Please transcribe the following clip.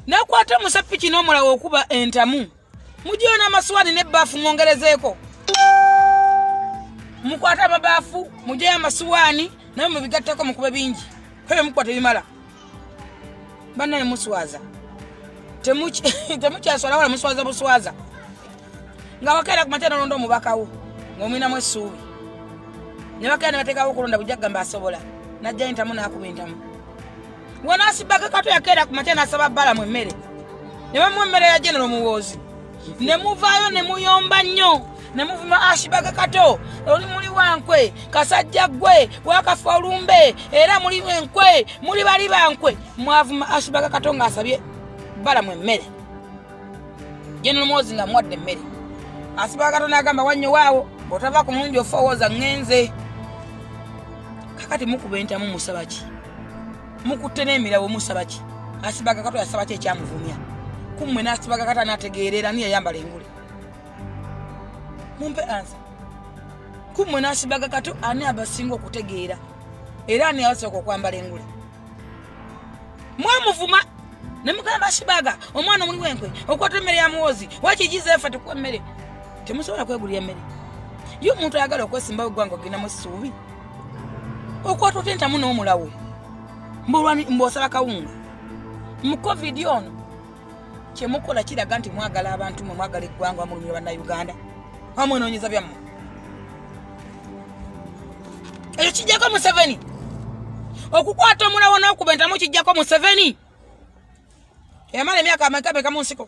nakwata omusepiki n'omulawo okuba entamu mugiyo n'amaswani n'ebbaafu mwongerezeeko mukwata amabaafu mujeyo amasuwaani naye mubigatteko mukube bingi kwebyo mukuba tebimala banaye muswaza temukyaswala wala muswaza buswaza nga wakeera kumakya nolonda omubakawo ngaomwinamu essuubi ne bakeera ne bateekawo okulonda bujja kugamba asobola najja entamu n'akuba entamu wanasibaka kato yakeera ku makya nasaba balamu emmere ne bamuwa emmere ya genero muwoozi ne muvaayo ne muyomba nnyo ne muvuma asibaka kato oli muli wankwe kasajja ggwe wakafa olumbe era muli enkwe muli bali bankwe mwavuma asibaka kato ng'asabye balamu emmere genero muwoozi nga muwadde emmere asibaka kato n'agamba wannyo waawo bw'otava ku mulungi ofa owooza ŋŋenze kakati mukuba entamu musaba ki mukutte n'emirawo musaba ki asibaga kato yasaba ki ekyamuvumya kummwe n'asibaga kato anategeerera ni yayambala engule mumpe ansa kummwe n'asibaga kato ani abasinga okutegeera era ani abasooka okwambala engule mwamuvuma ne mugamba asibaga omwana omuli wenkwe okwata emmere ya muwozi wakigiza efa tekuwa emmere temusobola kwegulira emmere ye omuntu ayagala okwesimbawo eggwanga ogenda mu ssuubi okwata otya entamu n'omulawo mbosala kawunga mu covid ono kyemukola kiraga nti mwagala abantu mwe mwagala eggwanga wamulumira bannauganda wamwenoonyeza byammwe ekyo kijjako museveni okukwata omulawo n'okuba entamu kijjako museveni yamala emyaka ameka meka mu nsiko